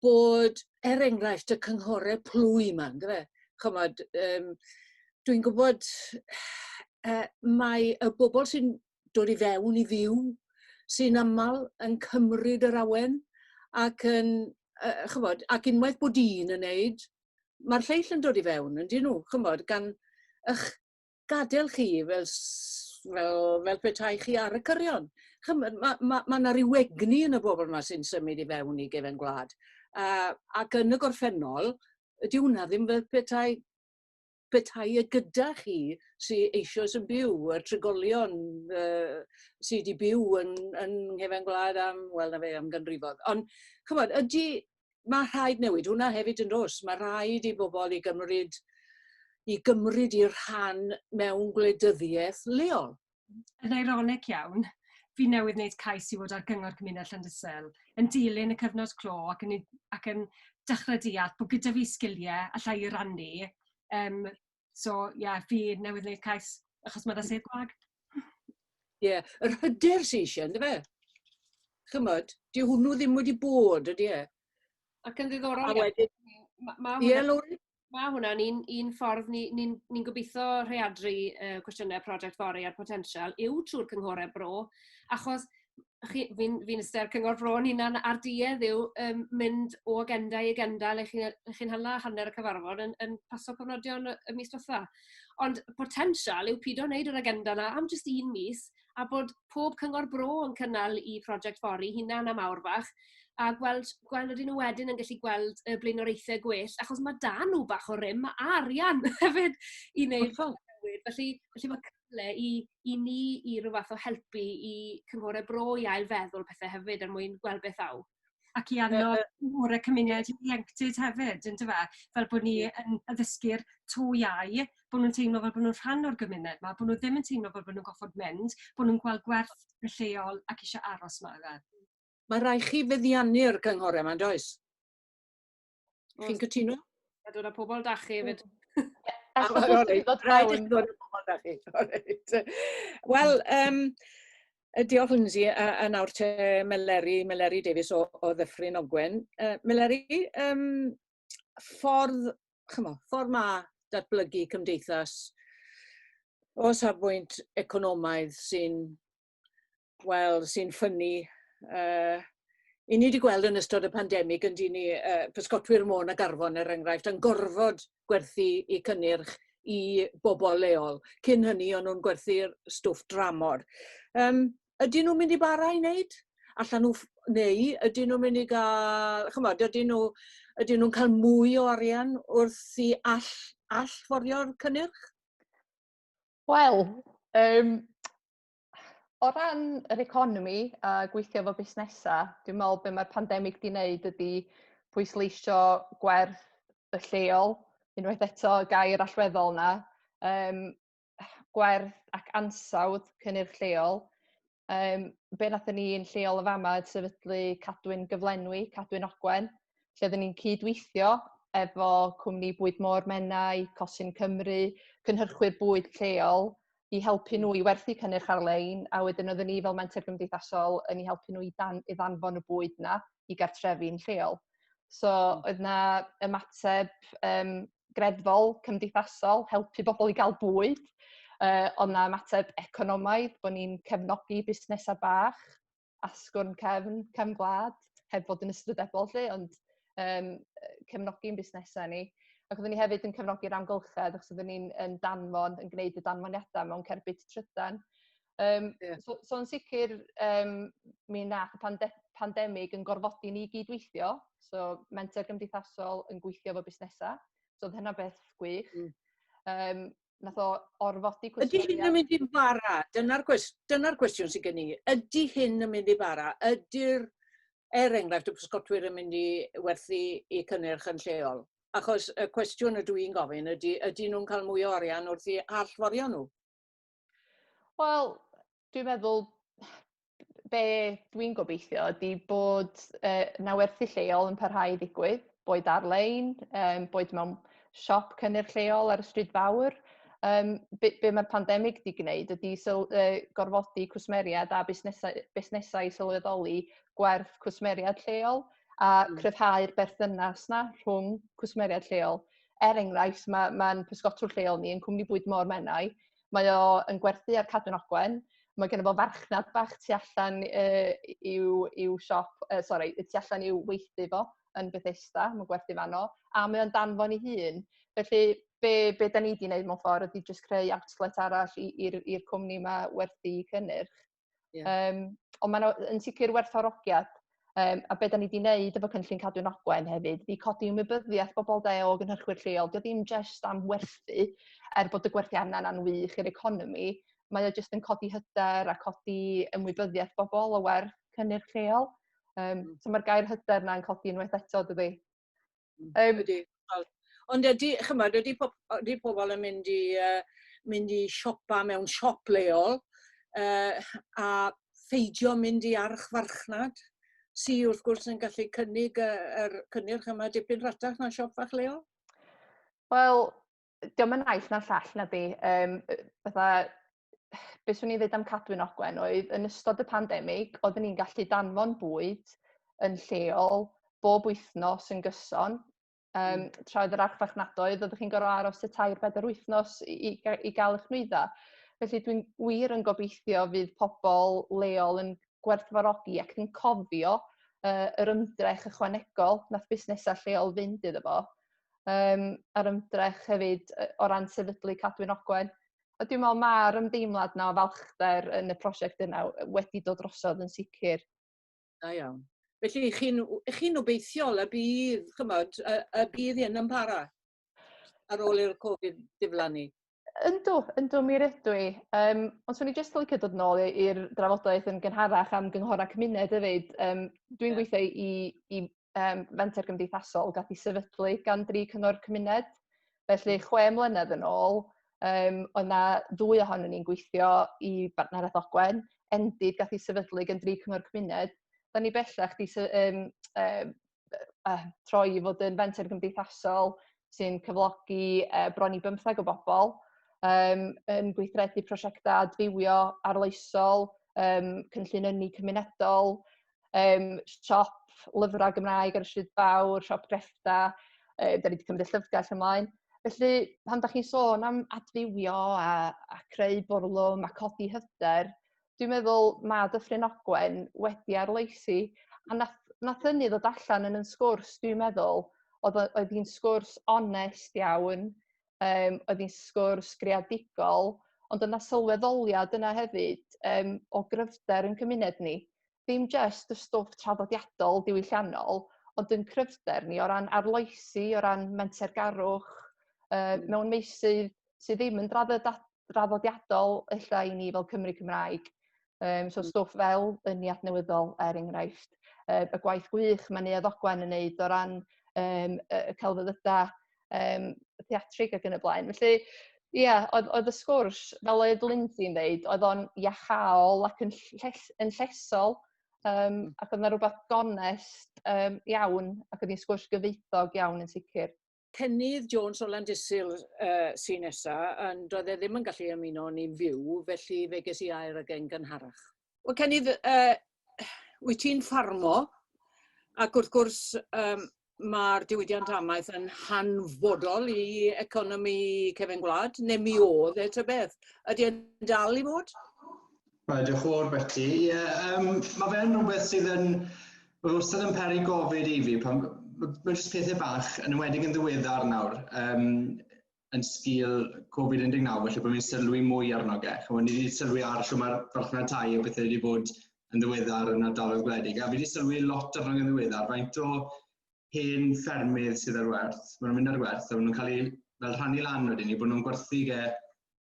bod, er enghraifft, y cynghorau plwy yma, yn dweud, chymod, um, dwi'n gwybod uh, mae y bobl sy'n dod i fewn i fyw sy'n aml yn cymryd yr awen ac yn, uh, chymod, ac unwaith bod un yn neud, mae'r lleill yn dod i fewn, yn dyn nhw, chymod, gan ych gadael chi fel s- fel fel petai chi ar y cyrion. Ch'mod ma' ma' ma' 'na ryw egni yn y bobl 'ma sy'n symud i fewn i gefen gwlad. A ac yn y gorffennol dyw hwnna ddim fel petai petai e gyda chi sy eisoes yn byw, y trigolion yy sy 'di byw yn yn nghefen gwlad am wel na fe am ganrifoedd. Ond ch'mod ydi Mae rhaid newid hwnna hefyd yn dos. Mae rhaid i bobl i gymryd i gymryd i'r rhan mewn gwleidyddiaeth leol. Yn eironig iawn, fi newydd wneud cais i fod ar Gyngor Cymuned Llandysel, yn dilyn y cyfnod clo ac yn, ac yn dechrau deall bod gyda fi sgiliau allai i rannu um, So ie yeah, fi newydd wneud cais achos mae 'da sedd gwag. Ie, yeah. yr hyder sy'n eisiau, ynddo fe? Chymod, di hwnnw ddim wedi bod, ydy e? Ac yn ddiddorol, a wedyn... Mae ma yeah, hwnna, ma hwnna'n un, un ffordd ni'n ni, ni, ni gobeithio rheadru uh, cwestiynau prosiect fori a'r potensial yw trwy'r cynghorau bro, achos chi, fi'n fi ystyr cyngor bro yn hunan ar duedd yw um, mynd o agenda i agenda le chi'n chi hala hanner y cyfarfod yn, yn paso cofnodion y mis diwetha. Ond potensial yw pido wneud yr agenda yna am jyst un mis a bod pob cyngor bro yn cynnal i prosiect fori hunan am awr fach a gweld, gweld ydyn nhw wedyn yn gallu gweld y blaenoriaethau gwell, achos mae dan nhw bach o rym a arian hefyd i wneud newid. Felly, felly mae cyfle i i ni i ryw fath o helpu i cynghore bro i ail feddwl pethe hefyd er mwyn gweld beth aw. Ac i annog cynghore cymuned ieuenctid hefyd on'd yfe? Fel bo' ni yn addysgu'r to iau, bo' nw'n teimlo fel bo' nw'n rhan o'r gymuned 'ma, bo' nw ddim yn teimlo fel bo' nw'n goffod mynd, bo' nw'n gweld gwerth y lleol ac isio aros 'ma yfe? Ma' rai' chi feddiannu'r cynghore 'ma yndoes? Chi'n cytuno? A dod â pobl da chi hefyd. Wel, um, diolch Lindsay, a, a nawr te Meleri, Meleri Davies o, o Ddyffryn Ogwen. Uh, Meleri, um, ffordd, chymo, ffordd ma datblygu cymdeithas o safbwynt economaidd sy'n wel, sy'n ffynnu, uh, i ni wedi gweld yn ystod y pandemig yn dyn ni uh, pysgotwyr môn a garfon er enghraifft yn gorfod gwerthu i cynnyrch i bobl leol. Cyn hynny o'n nhw'n gwerthu'r stwff dramor. Um, ydyn nhw'n mynd i bara i wneud? Allan nhw, neu ydyn nhw'n mynd i gael, chymod, ydyn nhw, ydyn nhw'n cael mwy o arian wrth i all, allforio'r cynnyrch? Wel, um, O ran yr economi a gweithio efo busnesa, dwi'n me'wl be' ma'r pandemic 'di neud ydi pwysleisio gwerth y lleol, unwaith eto y gair allweddol 'na, yym gwerth ac ansawdd cynnyrch lleol. Yym be' nathon ni yn lleol yn fama oedd sefydlu Cadwyn Gyflenwi, Cadwyn Ogwen, lle oddan ni'n cyd-weithio efo cwmni bwyd môr Menai, Cosyn Cymru, cynhyrchwyr bwyd lleol, i helpu nhw i werthu cynnyrch ar-lein, a wedyn oedden ni fel menter gymdeithasol yn eu helpu nhw i dan- i ddanfon y bwyd 'na i gartrefi'n lleol. So hmm. oedd 'na ymateb um, greddfol, cymdeithasol, helpu bobl i gael bwyd, uh, oedd 'na ymateb economaidd, bod ni'n cefnogi busnesau bach, asgwrn cefn, cefn gwlad, heb fod yn ystrydebol 'lly, ond yym cefnogi'n busnesau ni. Ac oeddwn ni hefyd yn cefnogi'r amgylchedd, achos oeddwn ni'n yn danfon, yn gwneud y danfoniadau mewn cerbyd trydan. Um, yeah. so, so yn sicr, um, mi nath y pande pandemig yn gorfodi ni gydweithio, so menter gymdeithasol yn gweithio efo busnesau, so oedd hynna beth gwych. Mm. Um, nath o orfodi cwestiwn... Ydy hyn yn mynd i'n fara? Dyna'r gwestiwn, dyna gwestiwn sydd gen i. Ydy hyn yn mynd i fara? Ydy'r, er enghraifft, y pysgotwyr yn mynd i werthu i cynnyrch yn lleol? Achos y cwestiwn ydw i'n gofyn ydy, ydy nhw'n cael mwy o orian wrth i allforio nhw? Wel, Dwi'n meddwl be' dwi'n gobeithio ydi bod yy 'na werthu lleol yn parhau i ddigwydd boed ar-lein yym boed mewn siop cynnyrch lleol ar y stryd fawr yym be' be' ma'r pandemic 'di gneud ydi syl- yy gorfodi cwsmeriaid a busnesau busnesau i sylweddoli gwerth cwsmeriaid lleol a cryfhau'r berthynas 'na rhwng cwsmeriaid lleol. Er enghraifft ma' ma'n pysgotwr lleol ni yn cwmni bwyd Môr Menai Mae o yn gwerthu ar Cadwyn Ogwen. Mae gynno fo farchnad bach tu allan yy i'w i'w siop yy sori, y tu allan i'w weithdy fo yn Bethesda, mae'n gwerthu fanno, a mae o'n danfon ei hun. Felly be be dan ni 'di wneud mewn ffordd ydy jyst creu outlet arall i i'r i'r cwmni 'ma werthu cynnyrch. Yeah. Um, ond mae'n yn sicr werthorogiad. Um, a beth da ni wedi wneud efo cynllun cadw'n ogwen hefyd, fi codi ymwybyddiaeth bobl da o gynhyrchwyr lleol. Dio ddim jyst am werthu, er bod y gwerthu anna yna'n wych i'r economi, mae o jyst yn codi hyder a codi ymwybyddiaeth bobl o werth cynnyrch lleol. Um, so mae'r gair hyder yna'n codi unwaith eto, dydy? Um, ydy. Ond ydy, chymod, ydy, po ydy pobl yn mynd i, uh, mynd i siopa mewn siop leol uh, a pheidio mynd i archfarchnad sydd wrth gwrs yn gallu cynnig yr er cynnyrch yma dipyn rhatach na siop fach leol? Wel, diolch yn naill na'r llall na di. Um, fatha, beth swn i'n dweud am Cadwyn Ogwen oedd yn ystod y pandemig, oeddwn ni'n gallu danfon bwyd yn lleol bob wythnos yn gyson. Um, mm. Tra oedd yr archfarchnadoedd, oeddech chi'n gorfod aros y tair bedair wythnos i, i, i gael eich nwyddau. Felly dwi'n wir yn gobeithio fydd pobl leol yn gwerthfarogi ac yn cofio uh, yr ymdrech ychwanegol nath busnesau lleol fynd iddo fo. yym a'r ymdrech hefyd yy o ran sefydlu Cadwyn Ogwen. A dwi me'wl ma'r ymdeimlad 'na o falchder yn y prosiect yna w- wedi dod drosodd yn sicir. Da iawn. Felly chi'n w- chi'n obeithiol y bydd ch'mod y y bydd hyn yn para ar ôl i'r Covid diflannu? Yndw yndw mi rydw i. Yym ond swn i jyst licio dod nôl i i'r drafodaeth yn gynharach am gynghora cymuned efyd yym dwi'n... Ie. ...gweithio i i um, fenter gymdeithasol gath ei sefydlu gan dri cyngor cymuned. Felly, hmm. chwe mlynedd yn ôl, um, oedd na ddwy ohonyn ni'n gweithio i Bartneriaeth Ogwen. Endid gath ei sefydlu gan dri cyngor cymuned. Da ni bellach di um, um, uh, troi i fod yn fenter gymdeithasol sy'n cyflogi uh, bron i bymtheg o bobl um, yn gweithredu prosiectau adfywio arloesol, um, cynllun ynni cymunedol, um, siop lyfrau Gymraeg ar y Stryd Fawr, siop greffta, uh, da ni wedi cymryd y llyfrgell ymlaen. Felly, pan da chi'n sôn am adfywio a, a creu bwrlwm a codi hyder, dwi'n meddwl mae Dyffryn Ogwen wedi arloesi. A nath, nath hynny ddod allan yn yn sgwrs, dwi'n meddwl, oedd, oedd hi'n sgwrs onest iawn, yym oedd hi'n sgwrs greadigol, ond oedd 'na sylweddoliad yna hefyd yym o gryfder ein cymuned ni. Dim jyst y stwff traddodiadol diwylliannol, ond yn cryfder ni o ran arloesi, o ran mentergarwch yy mewn meysydd sydd ddim yn draddodiadol. draddodiadol ella i ni fel Cymry Cymraeg. Um, so mm. stwff fel yn ni adnewyddol er enghraifft. Uh, y gwaith gwych mae Neuadd Ogwen yn neud o ran um, y celfyddydau um, theatrig ac yn y blaen. Felly, ie, yeah, oedd, oedd y sgwrs, fel oedd Lindsay'n ddeud, oedd o'n iachol ac yn, lles, yn llesol, um, ac oedd yna rhywbeth gonest um, iawn, ac oedd hi'n sgwrs gyfeithog iawn yn sicr. Cennydd Jones o Landysul uh, sy'n nesa, ond doedd e ddim yn gallu ymuno ni'n fyw, felly fe ges i air ag e'n gynharach. Wel, Cennydd, uh, wyt ti'n ffarmo, ac wrth gwrs um, mae'r diwydiant amaeth yn hanfodol i economi cefn gwlad, neu mi oedd e ta beth. Ydy e'n dal i fod? Mae diolch o'r Betty. Ie, yeah, um, mae fe'n rhywbeth sydd yn... Mae wastad yn peri gofyd i fi, pan mae jyst pethau bach, yn ymwedig yn ddiweddar nawr, um, yn sgil Covid-19, felly bod ni'n sylwi mwy arno ge. Chymod, ni wedi sylwi ar siw mae'r farchnad tai o bethau wedi bod yn ddiweddar yn ardaloedd gwledig, a fi wedi sylwi lot arno yn ddiweddar, faint o hen ffermydd sydd ar werth, maen nhw'n mynd ar werth, a maen nhw'n cael eu fel rhannu lan wedyn ni, bod nhw'n gwerthu ge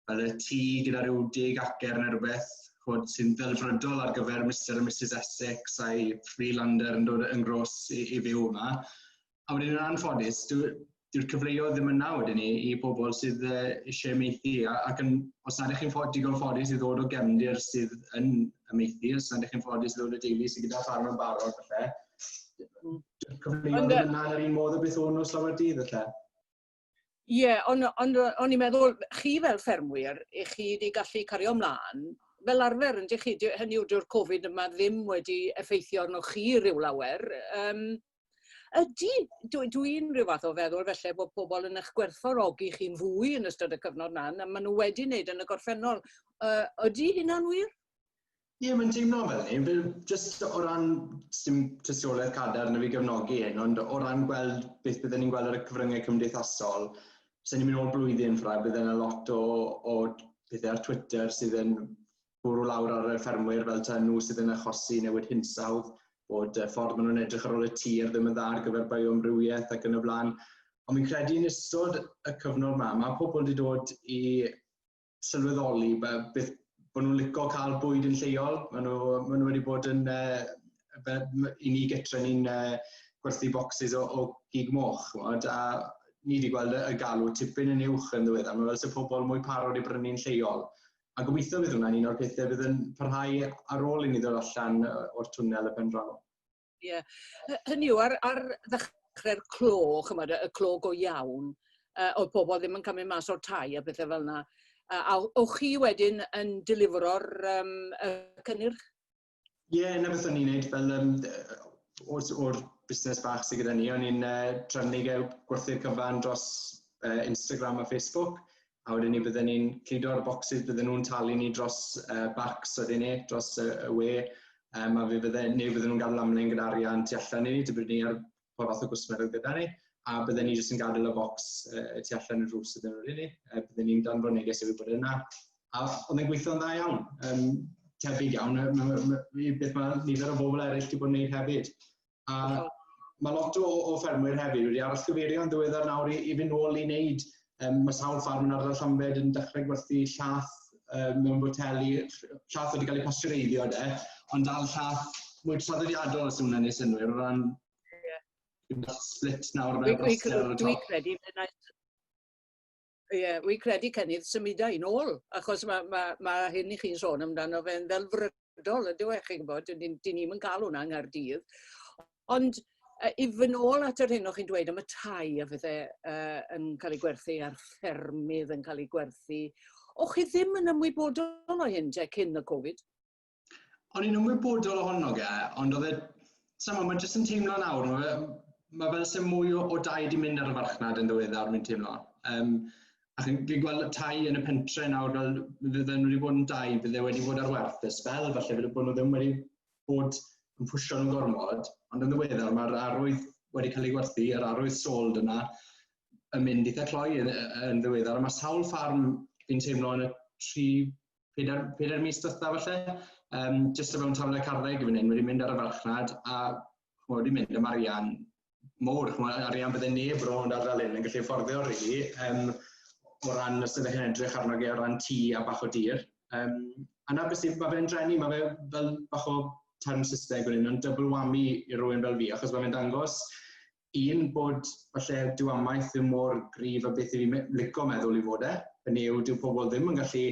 Fel y tŷ gyda rhyw deg acer neu rhywbeth, chod, sy'n ddelfrydol ar gyfer Mr a Mrs Essex a'i Freelander yn dod yn gros i, i fyw yma. A wedyn yn anffodus, dyw'r dwi cyfleoedd ddim yna wedyn i, i bobl sydd uh, eisiau meithi, ac yn, os nad ych chi'n ffod, digon ffodus i ddod o gefndir sydd yn y meithi, os nad ych chi'n ffodus i ddod o deulu sydd gyda ffarm yn barod, felly, cyfleoedd ddim yna yn yr un modd o beth o'n nhw llawer dydd, felly. Ie, ond ond o- o'n i'n meddwl chi fel ffermwyr, 'ych chi 'di gallu cario mlan fel arfer yndych chi? Dy- hynny yw dyw'r Covid yma ddim wedi effeithio arnoch chi ryw lawer. Yym ydy dw dwi'n ryw fath o feddwl falle bod pobl yn eich gwerthfawrogi chi'n fwy yn ystod y cyfnod 'na na maen nhw wedi wneud yn y gorffennol. Yy ydy hynna'n wir? Ie, mae'n teimlo fel ni. Fel, jyst o ran, sy'n tystiolaeth cadar na fi gefnogi hyn, ond o ran gweld beth byddwn ni'n gweld ar y cyfryngau cymdeithasol, sy'n ni'n mynd o'r blwyddyn ffra, bydd yna lot o, o pethau ar Twitter sydd yn bwrw lawr ar y ffermwyr fel ta nhw sydd yn achosi newid hinsawdd, bod y ffordd maen nhw'n edrych ar ôl y tir ddim yn dda ar gyfer bioamrywiaeth ac yn y blaen. Ond fi'n credu yn ystod y cyfnod yma, mae pobl wedi dod i sylweddoli be, beth bod nhw'n licio cael bwyd yn lleol. Maen nhw, maen nhw wedi bod yn, uh, i ni gytre ni'n uh, gwerthu bocsys o, o gig moch, chwod, a ni wedi gweld y galw tipyn yn uwch yn ddiweddar. Mae fel sy'n pobl mwy parod i brynu'n lleol. A gobeithio bydd hwnna'n un o'r pethau bydd yn parhau ar ôl i ni ddod allan o'r twnnel y pen draw. Ie. Hy- hynny yw ar ar ddechre'r clo ch'mod y y clo go iawn yy o'dd pobol ddim yn cymryd mas o'r tai a pethe fel 'na. A a o- o'ch chi wedyn yn delifro'r yym y cynnyrch? Ie, 'na beth o'n i'n neud fel yym d- yy o'r o'r busnes bach sy gyda ni, o'n i'n yy trefnu gwerthu'r cyfan dros yy Instagram a Facebook, a wedyn ni bydden ni'n cludo ar y bocsys, bydden nhw'n talu ni dros uh, bacs wedyn ni, dros y, y we, um, a fe bydden, neu bydden nhw'n gadael amlaen gyda arian tu allan i ni, dybyd ni ar pa fath o gwsmer oedd gyda ni, a bydden ni jyst yn gadael y bocs uh, tu allan y rhws ydyn nhw'n ni, uh, bydden ni'n dan fy neges efo bod yna. A oedd e'n gweithio'n dda iawn, um, tebyg iawn, beth mae nifer o bobl eraill wedi bod yn gwneud hefyd. A mae lot o, o ffermwyr hefyd wedi aros cyfeirio yn ddiweddar nawr i, i fynd nôl i wneud, um, mae sawl ffarm yn ardal Llambed yn dechrau gwerthu llath um, mewn boteli, llath wedi cael ei pastureiddio de, ond dal llath mwy traddodiadol os yw'n ennill synwyr o ran yeah. split nawr mewn plaster ar y top. Dwi'n credu, Ie, wi credu cynnydd symudau yn ôl, achos mae ma, ma hyn i chi'n sôn amdano fe'n ddelfrydol, ydyw e, chi'n gwybod, dyn ni'n ni yn cael hwnna yng Nghaerdydd. Ond uh, i fy nôl at yr hyn o'ch chi'n dweud am y tai a fydde uh, yn cael ei gwerthu a'r ffermydd yn cael ei gwerthu, o'ch chi ddim yn ymwybodol o hyn te cyn y Covid? o'n i'n ymwybodol ohono ge, ond oedd e, sa'm ond, mae jyst yn teimlo nawr, mae fe, mae fel sy'n mwy o, o dau di mynd ar y farchnad yn ddiweddar, mi'n teimlo. Um, a chi'n fi gweld tai yn y pentre nawr, fel fydden nhw wedi bod yn dau, bydde wedi bod ar werth y spel, falle fydde bod nhw ddim wedi bod yn pwysio nhw'n gormod, ond yn ddiweddar mae'r arwydd wedi cael ei gwerthu, yr arwydd sold yna, yn mynd eitha cloi yn, yn ddiweddar, a mae sawl ffarm fi'n teimlo yn y tri pedair, pedair mis dwytha falle, um, jyst o fewn taflen y carreg i fyny, wedi mynd ar y farchnad a chmod, wedi mynd am arian mowr, chmod, arian bydde neb rôl yn adael hyn yn gallu fforddio rili, really, um, o ran os ydych chi'n edrych arno ge o ran tŷ a bach o dir. Um, a na beth sy'n, mae fe'n drenu, mae fe fel bach o term Saesneg wedyn, ond double whammy i rywun fel fi, achos mae fe'n dangos un bod falle dyw amaeth ddim mor gryf a beth i fi'n lico meddwl i fod e, yn yw dyw pobl ddim yn gallu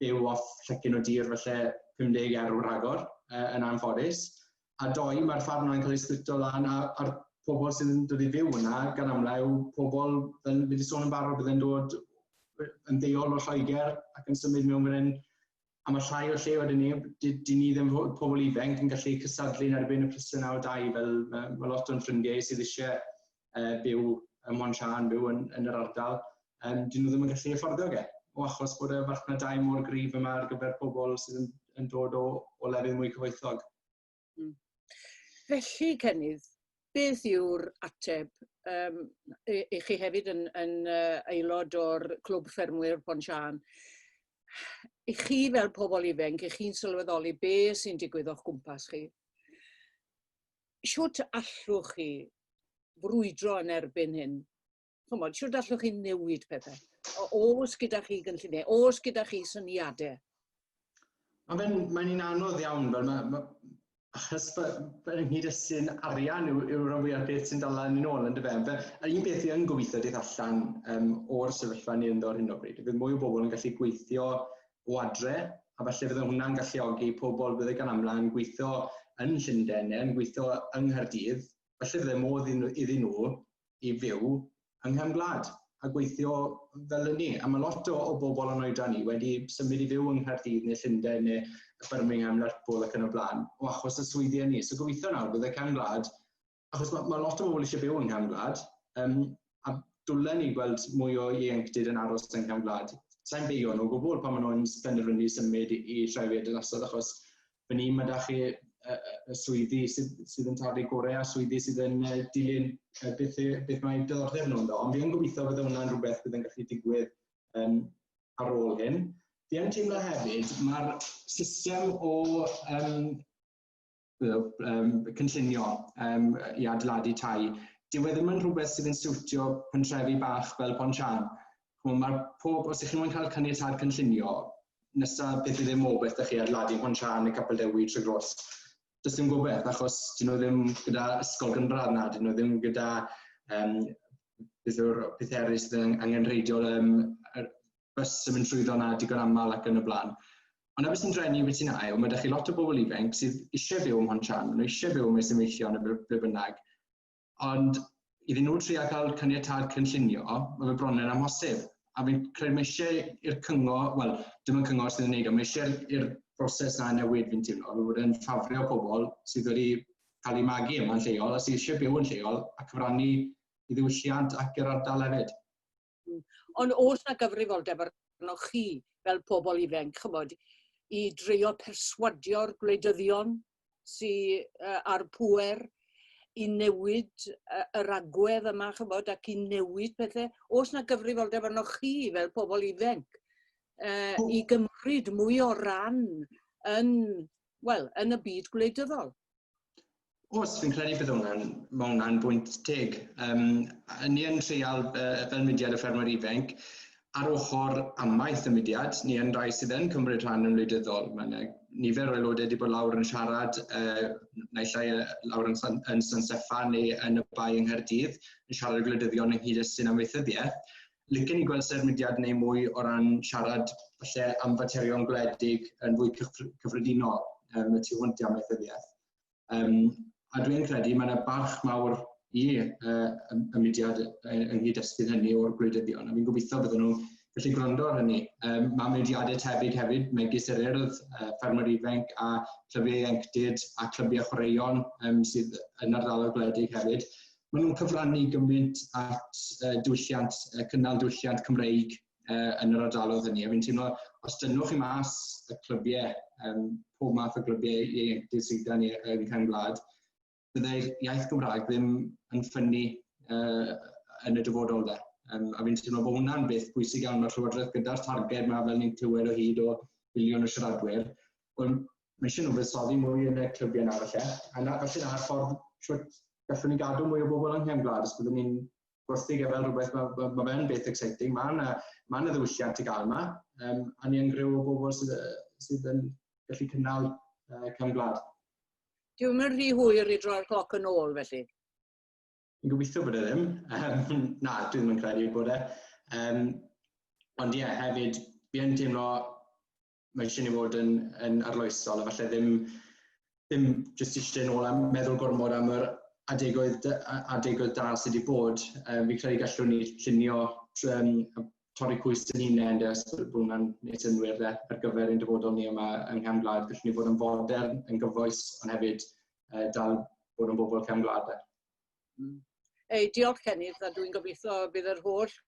byw off llecyn o dir falle 50 erw rhagor uh, yn anffodus. A doi, mae'r ffarm yna'n cael ei splito lan a, a'r pobl sy'n dod i fyw yna gan amlau yw pobl, fel fi wedi sôn yn barod, byddai'n dod yn ddeol o Lloegr ac yn symud mewn fan hyn a mae llai o lle wedyn ni, dyn ni ddim fod pobl ifanc yn gallu cysadlu yn erbyn y plisau naw dau fel mae, mae lot o'n ffrindiau sydd eisiau uh, byw ym Mont Sian, byw yn, yn yr ardal, um, dyn nhw ddim yn gallu efforddio ge, o achos bod y farchnadau mor gryf yma ar gyfer pobl sydd yn, yn dod o, o lefydd mwy cyfoethog. Mm. Felly, Cenydd, beth yw'r ateb? Um, i, i chi hefyd yn, yn uh, aelod o'r Clwb Ffermwyr Pon Sian. I chi fel pobl ifanc, i chi'n sylweddoli be sy'n digwydd o'ch gwmpas chi, siwt allwch chi frwydro yn erbyn hyn? chymod, siwr allwch chi newid pethau? Os gyda chi gynlluniau, os gyda chi syniadau? A mae'n mae un anodd iawn, fel mae, mae achos fel yn hyd sy'n arian yw'r yw rhan fwyaf beth sy'n dal yn ôl yn dy fewn. Fe, yr un beth i yn gobeithio dydd allan um, o'r sefyllfa ni ynddo ar hyn o bryd, bydd mwy o bobl yn gallu gweithio o adre, a falle fydde hwnna'n galluogi pobl bydde gan amla yn gweithio yn Llundain neu yn gweithio yng Nghaerdydd, falle fydde modd iddyn nhw i fyw yng nghefn gwlad a gweithio fel ynni. A mae lot o, o bobl yn oedran ni wedi symud i fyw yng Nghaerdydd neu Llundain neu Birmingham, Lerpwl ac yn y blaen, o achos y swyddi ni. So gobeithio nawr bydd y cefn gwlad, achos mae, mae lot o bobl eisiau byw yng nghefn gwlad, um, a dwlen ni gweld mwy o ieuenctid yn aros yng nghefn gwlad. Sa'n beio nhw o gwbl pan maen nhw'n penderfynu symud i, i trefyd yn ystod achos fan hyn, mae da chi y swyddi sydd, sydd yn tarfu gorau a swyddi sydd yn dilyn beth, beth mae diddordeb nhw ynddo. Ond fi yn gobeithio bod hwnna'n rhywbeth bydd yn gallu digwydd um, ar ôl hyn. Fi yn teimlo hefyd, mae'r system o um, um, cynllunio um, i adeiladu tai, dyw e ddim yn rhywbeth sydd yn siwtio pentrefi bach fel Pontchan. Ch'mo' ma'r pob... Os 'ych chi moyn cael caniatâd cynllunio, nesa beth yw ddim o beth 'da chi ar Ladi Hon Siân neu Capel Dewi trwy Gros, does dim gobeth achos 'dyn nhw ddim gyda ysgol gynradd na, 'dyn nhw ddim gyda um, beth yw'r peth eraill sydd yn angenrheidiol um, yr bus yn mynd trwyddo na digon aml ac yn y blaen. Ond na beth sy'n drenu beth sy'n ail, mae da chi lot o bobl ifanc sydd eisiau byw ym Mhont Siân, maen nhw eisiau byw mewn Symeichion neu ble bynnag, Ond iddyn nhw trio cael caniatâd cynllunio, mae fe bron yn amhosib. A fi'n credu mae eisiau i'r cyngor, wel, dim ond cyngor sydd yn neud o, mae eisiau i'r broses na newid fi'n teimlo, fe bod e'n ffafrio pobl sydd wedi cael eu magu yma'n lleol a sydd eisiau byw yn lleol a cyfrannu i ddiwylliant ac yr ardal hefyd. Ond oes na gyfrifoldeb arnoch chi fel pobl ifanc, chymod, i dreio perswadio'r gwleidyddion sy uh, ar pwer i newid uh, yr agwedd yma, chymod, ac i newid pethau. Oes na gyfrifoldeb arnoch chi fel pobl ifanc uh, i gymryd mwy o ran yn, well, yn y byd gwleidyddol? Oes, fi'n credu bydd hwnna'n, mae hwnna'n bwynt teg. Um, ni yn treial uh, fel mudiad y ffermwyr ifanc, ar ochr amaeth y mudiad, ni yn rhai sydd yn cymryd rhan yn wleidyddol. Mae yna nifer o aelodau wedi bod lawr yn siarad, uh, naill ai uh, lawr yn, San, yn San Steffan neu yn y bai yng Nghaerdydd, yn siarad y gwleidyddion ynghyd â sy'n amaethyddiaeth. Lycyn ni gweld sef mudiad neu mwy o ran siarad falle am faterion gwledig yn fwy cyffredinol um, y tu hwnt i amaethyddiaeth. Um, a dwi'n credu mae yna barch mawr i uh, y mudiad yng nghyd-destun hynny o'r gwleidyddion, a fi'n gobeithio bydden nhw'n gallu gwrando ar hynny. Um, mae mudiadau tebyg hefyd, megis yr urdd, uh, ffermwyr ifanc a clybiau ieuenctid a clybiau chwaraeon um, sydd yn ardaloedd gwledig hefyd. Maen nhw'n cyfrannu gymaint at uh, diwylliant, uh, cynnal diwylliant Cymreig uh, yn yr ardaloedd hynny. A fi'n teimlo, os dynwch chi mas y clybiau, um, pob math o glybiau ieuenctid sydd gan ni yn Cefn Gwlad, byddai'r iaith Gymraeg ddim yn ffynnu uh, yn y dyfodol dde. Um, a fi'n teimlo bod hwnna'n beth bwysig iawn, mae'r Llywodraeth gyda'r targed mae fel ni'n clywed o hyd o filiwn o siaradwyr, ond mae eisiau nhw fuddsoddi mwy yn y clybiau nawr falle, a na, falle na'r ffordd siwt gallwn ni gadw mwy o bobl yng Nghefn Gwlad os byddwn ni'n gwerthu gafael rhywbeth, mae ma, ma fe'n beth exciting, mae yna ma ddiwylliant i gael yma, um, a ni'n gryw o bobl sydd, sydd yn gallu cynnal uh, cam gwlad. Dwi'n mynd rhy hwyr i droi'r cloc yn ôl felly. Yn gobeithio bod e ddim. Um, na, dwi ddim yn credu bod e. Um, ond ie, yeah, hefyd, fi yn teimlo mae eisiau ni fod yn, yn arloesol a falle ddim, ddim jyst eisiau nôl am meddwl gormod am yr adegoedd, adegoedd da sydd wedi bod. Um, fi'n credu gallwn ni llunio um, torri cwys yn hunain, de, os bod hwnna'n neud synwyr de, ar gyfer ein dyfodol ni yma yng Nghefn Gwlad. Gallwn ni fod yn fodern, yn gyfoes, ond hefyd uh, dal bod yn bobl Cefn Gwlad. De. Mm. Ei, diolch Cenydd, a dwi'n gobeithio bydd yr holl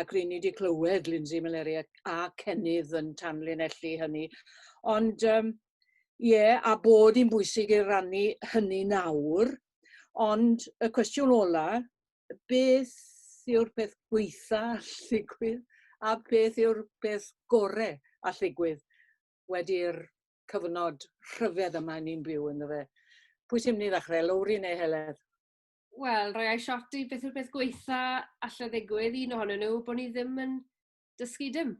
ac ry'n ni wedi clywed Lindsay Meleri a, a Cenydd yn tanlinellu hynny. Ond um, ie, yeah, a bod hi'n bwysig i rannu hynny nawr, ond y cwestiwn ola, beth yw'r peth gweitha alligwydd a beth yw'r peth gorau alligwydd wedi'r cyfnod rhyfedd yma ni'n byw yn fe. Pwy sy'n mynd i ddechrau, Lowri neu Heledd? Wel, rhoi ice shot i beth yw'r peth gweitha allai ddigwydd, un ohonyn nhw, bod ni ddim yn dysgu dim.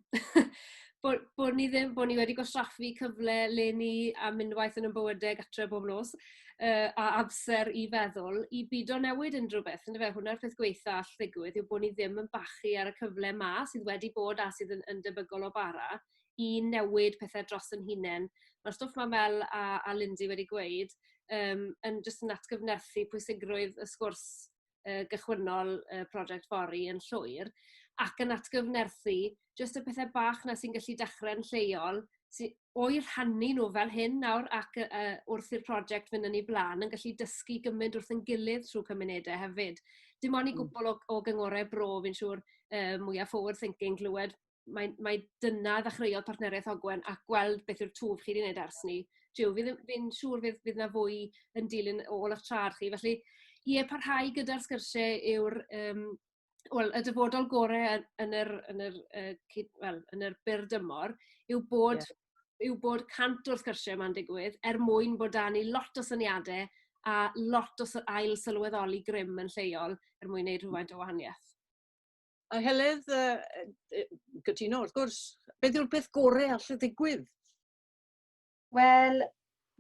bod, bod ni ddim, bod ni wedi gwastraffu cyfle le ni a mynd waith yn y bywydau gatre bob nos, uh, a amser i feddwl, i byd o newid unrhyw beth. Ynddo fe, hwnna'r peth gweitha all ddigwydd yw bod ni ddim yn bachu ar y cyfle ma sydd wedi bod a sydd yn, yn debygol o bara i newid pethe dros 'yn hunen. Ma'r stwff 'ma fel a a Lindsay wedi gweud yym yn jyst yn atgyfnerthu pwysigrwydd y sgwrs yy gychwynnol y project fory yn llwyr ac yn atgyfnerthu jyst y pethe bach 'na sy'n gallu dechre'n lleol sy o'u rhannu nhw fel hyn nawr ac yy yy wrth i'r project fynd yn ei bla'n yn gallu dysgu gymaint wrth ein gilydd trwy cymunedau hefyd. Dim ond i hmm. gwbl o o gyngorau bro fi'n siŵr yy mwya forward thinking glywed mae mae dyna ddechreuodd partneriaeth Ogwen a gweld beth yw'r twf chi 'di neud ers 'ny. Jiw fi ddim fi'n siŵr fydd fydd 'na fwy yn dilyn ôl 'ych trad chi felly ie parhau gyda'r sgyrsie yw'r yym wel y dyfodol gore yn yn yr yn yr yy cyd- wel yn yr byr dymor yw bod... Ie. ...yw bod cant o'r sgyrsie 'ma'n digwydd er mwyn bod 'da ni lot o syniade a lot o sy- ail sylweddoli grym yn lleol er mwyn neud rhywfaint o wahanieth. A Heledd, yy cytuno wrth gwrs. Beth yw'r peth gore all ddigwydd? Wel,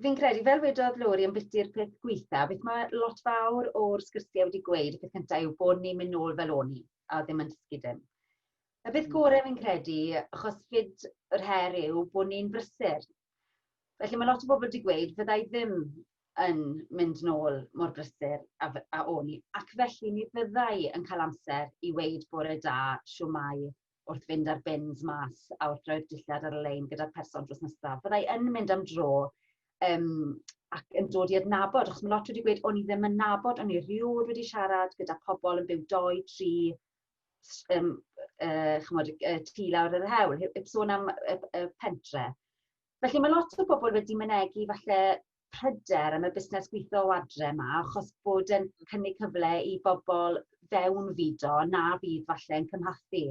fi'n credu, fel wedodd Lori yn biti'r peth gweitha, beth mae lot fawr o'r sgyrsiau wedi gweud, y peth cyntaf yw bod ni'n mynd nôl fel o'n i, a ddim yn dysgu dim. Y peth hmm. gorau fi'n credu, achos fyd yr her yw bod ni'n brysur, Felly mae lot o bobl wedi gweud, fydda i ddim yn mynd nôl mor brysur a, a o'n i. Ac felly mi fydda i yn cael amser i weid bore da, siwmai, wrth fynd ar bins mas a wrth roi'r dillad ar y lein gyda'r person dros nesaf. Fydda i yn mynd am dro um, ac yn dod i adnabod, achos mae lot wedi gweud, o'n i ddim yn nabod, o'n i rhywod wedi siarad gyda pobl yn byw doi, tri, s- yym yy ch'mod y y tŷ lawr yn yr hewl he- heb sôn am y p- y pentre. Felly ma' lot o bobol wedi mynegi falle pryder am y busnes gwitho o adre 'ma achos bod e'n cynnig cyfle i bobol fewnfudo na fydd falle'n cymhathu.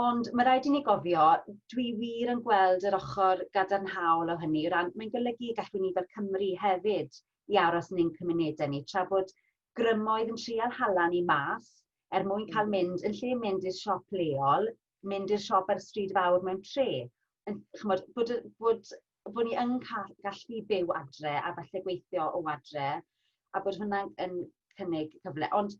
Ond ma' raid i ni gofio, dwi wir yn gweld yr ochor gadarnhaol o hynny o ran mae'n golygu gallwn ni fel Cymry hefyd i aros yn ein cymunede ni tra bod grymoedd yn trial hala ni mas er mwyn cael mm. mynd, yn lle mynd i'r siop leol, mynd i'r siop ar y stryd fawr mewn tre. Yn, chymod, bod, bod, bod ni yn cael, gallu byw adre a falle gweithio o adre, a bod hwnna'n yn cynnig cyfle. Ond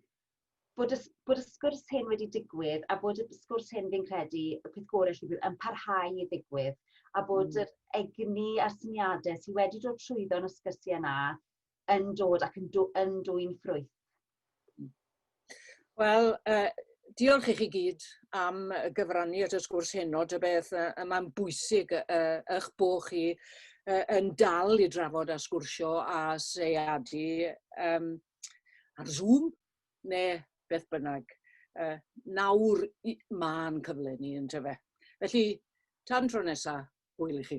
bod y, bod y sgwrs hyn wedi digwydd a bod y sgwrs hyn fi'n credu y peth gorau lle bydd yn parhau i ddigwydd a bod mm. yr egni a'r syniadau sydd wedi dod trwyddo yn y sgyrsiau yna yn dod ac yn dw- yn dwyn ffrwyth? Wel, uh, diolch i chi gyd am gyfrannu at y sgwrs heno, dy beth uh, mae'n bwysig uh, eich bod chi uh, yn dal i drafod a sgwrsio a seiadu um, ar Zoom neu beth bynnag. Uh, nawr mae'n cyfle ni yn tyfe. Felly, tan tro nesaf, hwyl i chi.